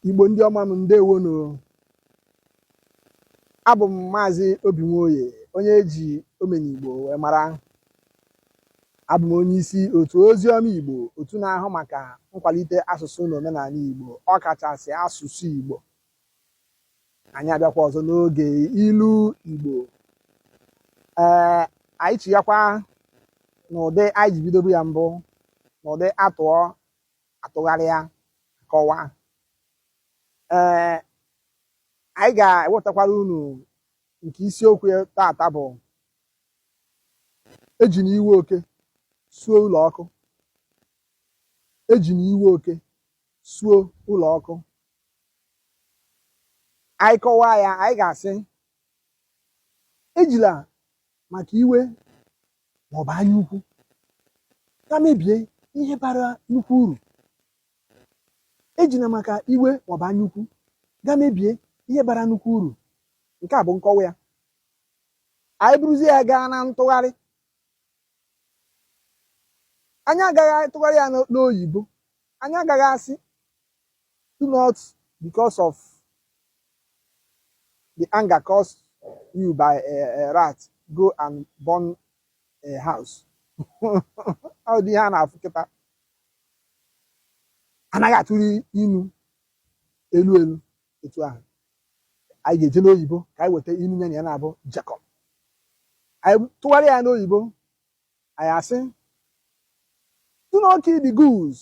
igbo ndị ọma m ndewonu abụ m maazị obi nwoye onye eji omenigbo wee mara abụ m onye isi otu ozi ọma igbo otu na-ahụ maka nkwalite asụsụ na omenanị igbo ọkachasị asụsụ igbo anyị abịakwa ọzọ n'oge ilu igbo ee anyị chighakwa n'ụdị anyị ji bidobu ya mbụ n'ụdị a tụọ a tụgharịa kọwaa ee anyị ga-ewetakwara unu nke isiokwu tata bụ ejina iwe oke suo ụlọ ọkụ ejina iwe oke suo ụlọ ọkụ anyị kọwaa ya anyị ga-asị ejila maka iwe ma ọ bụ anya ukwu ga mebie ihe bara nnukwu uru ejila maka iwe ma ọ bụ anya ukwu ga mebie ihe bara nnukwu uru nke a bụ nkọwa ya anyị buruzie ya gaa na ntụgharị anyị agaghị atụgharị ya n'oyibo anyị agaghị asị Do not, because of the anger caused you by a, a rat, go and burn a house. Ọ dị ihe a na-afụ kịta. Anaghị atụgharị inu elu elu etu ahụ. Anyị ga-eje n'oyibo ka anyị weta inu ya na ya naabọ jekọ. Anyị tụgharịa ya n'oyibo, anyị asị, do not kill the goose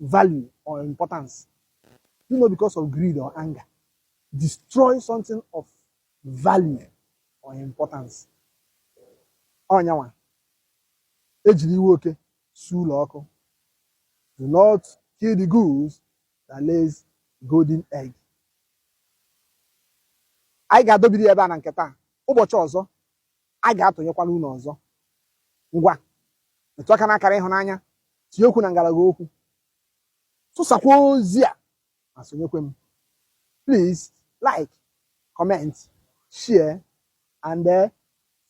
value or importance do not because of greed or anger destroy something of value or importance ọ nya nwa ejiri iwe oke suo ụlọ ọkụ do not kill the goose that lays golden egg anyị ga-adọbiri ya ebe a na nke taa ụbọchị ọzọ a ga-atụnyekwala unu ọzọ ngwa metụ aka n'akara ịhụnanya tinye okwu na ngalaba okwu tụsakwa ozi a ma sonyekwe m please like comment share and uh,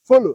follow